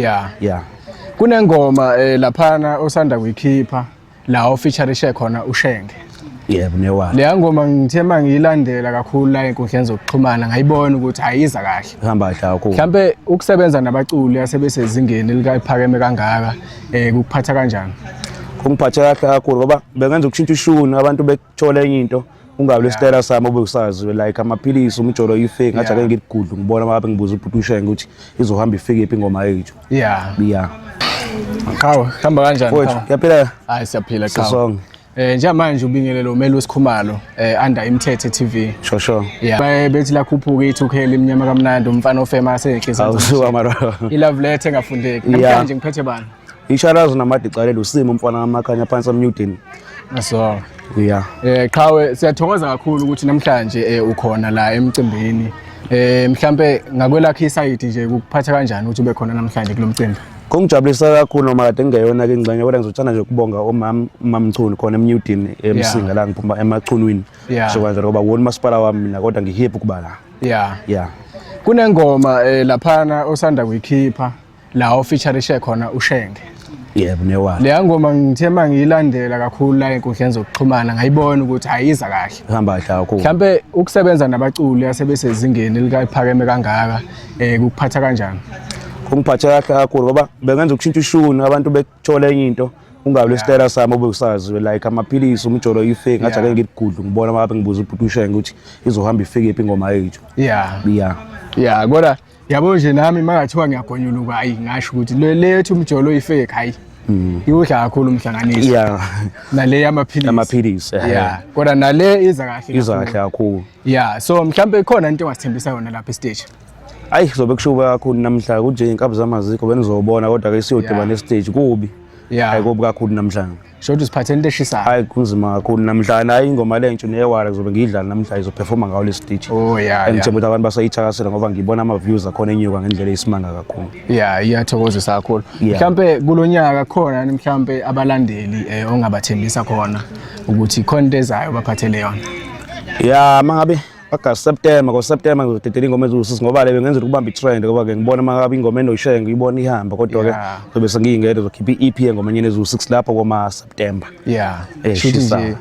yeah yeah kunengoma eh, laphana osanda kuyikhipha la ofeaturishe khona ushenge yebo newa leya ngoma ngithe uma ngiyilandela kakhulu la enkundleni zokuxhumana ngayibona ukuthi ayiza kahle ihamba kahle kakhulu mhlampe ukusebenza nabaculi asebesezingeni likaphakeme kangaka um kukuphatha kanjani kungiphathe kahle kakhulu ngoba bengenza ukushintsha ishuni abantu thola enye into ungabi lesitayela sami obekusaziwe like amaphilisi umjolo ifake ngathi ake ngikugudlu ngibona mabe ngibuza ubhuti ushenge ukuthi izohamba ifike phi ingoma yethu yeah yeah Khawu, hamba kanjani? Mfowethu, uyaphila? Hayi siyaphila khawu. Sisonke. Eh njengamanje ubingelelo umeli wesikhumalo eh under iMthethe TV. Sho sho. Yeah. Baye bethi la khuphuka i2K imnyama kamnandi umfana ofema asenhle. Awusuka mara. I love letter engafundeki. Namhlanje ngiphethe bani? Isharazi namadicalelo usimo umfana kamakhanya phansi amnyudeni. So yeah. Eh qhawe siyathokoza kakhulu ukuthi namhlanje eh, ukhona la emcimbini. Eh mhlambe ngakwelakhe isayidi nje ukuphatha kanjani ukuthi ube khona namhlanje kulomcimbi? Kungijabulisa kakhulu noma kade ngingeyona ke ingxenye kodwa ngizothanda nje ukubonga omam umamchunu khona emnyudini emsinga la ngiphuma emachunwini. So kanjalo ngoba wona umasipala wami mina kodwa ngihiye ukuba la. Yeah. Yeah. Kunengoma eh laphana osanda kuyikhipha la ofeaturishe khona uShenge yebo newala leya ngoma ngithe uma ngiyilandela kakhulu la enkundleni zokuxhumana ngayibona ukuthi ayiza kahle ihamba kahle kakhulu mhlampe ukusebenza nabaculi asebesezingeni likaphakeme kangaka eh kukuphatha kanjani kungiphathe kahle kakhulu ngoba bengenza ukushintsha ishuni abantu bethole enye into ungabe lesitayela sami obusaziwe like amaphilisi umjolo ifake ngathi ake ngikugudlu ngibona uma ngibuza ubhuti ushenge ukuthi izohamba ifike iphi ingoma yethu yeah yeah yeah kodwa yabo nje nami makathiwa ngiyagonyuluka hayi ngasho ukuthi le lethu umjolo oyifake hayi mm. iwudla kakhulu umhlanganiso yeah nale yamaphilisi amaphilisi eh. yeah kodwa nale iza kahle iza kahle kakhulu yeah so mhlambe ikhona into engasithembisa yona lapha estage ayi zobe kushuba kakhulu namhla kunje inkabi zamazikho benizobona kodwa ke siyodibana yeah. estage kubi yeah ayikobi kakhulu namhlanje Shothi siphathe into eshisayo. Hayi kunzima kakhulu namhlanje hayi ingoma le ntshu neyewala kuzobe ngiyidlala namhlanje izoperforma ngawo le stage. Oh yeah. Ngithemba ukuthi abantu basayithakasela ngoba ngibona ama views akhona enyuka ngendlela eyisimanga kakhulu. Yeah, iyathokozisa kakhulu. Mhlambe kulonyaka khona mhlambe abalandeli eh, ongabathembisa khona ukuthi khona into ezayo baphathele yona. Yeah, mangabe August September ngo September ngizodedela ingoma eziwusisi ngoba le bengenza ukubamba i-trend ngoba ke ngibona uma ngabe ingoma enoyishaya ngiyibona ihamba kodwa ke zobe sengiyingede zokhipha i-EP engoma enyeni eziwu-6 lapho koma September yeah eh, shuthi nje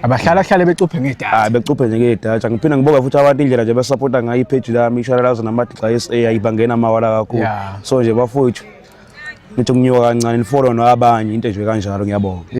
abahlala hlale becuphe ngedata hayi becuphe nje ngedata ngiphinde ngibonga futhi abantu indlela nje besupporta ngayo i-page lami ishalalazo namadixa yes ayibangena amawala kakhulu so nje bafowethu nithi kunyuka kancane nifollow nabanye into nje kanjalo ngiyabonga